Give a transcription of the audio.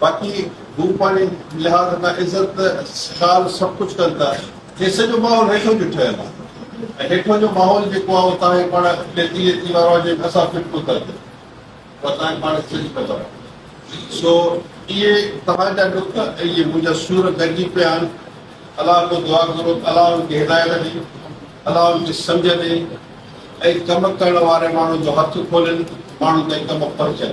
باقي هو پنهنجي لحاظ کان عزت خال سڀ ڪجهه ڪن ٿا هي سڄو ماحول هيٺون جو ٺهيل آهي ۽ هيٺون جو ماحول جيڪو آهي اهو تهائين پاڻ ليتي ليتي وارو آهي جنهن کي اسان فٽ ڪتر چئون اها تهائين پاڻ کي سڄي خبر آهي سو اهي تهان جا ڏک ۽ اهي منهنجا سور گڏجي پيا آهن الله کان دعا ڪرو ته الله ان کي هدايت ڏي الله ان کي سمجهه ڏي ۽ ڪم ڪرڻ واري ماڻهو جو هٿ کولين ماڻهو تائين ڪم پهچن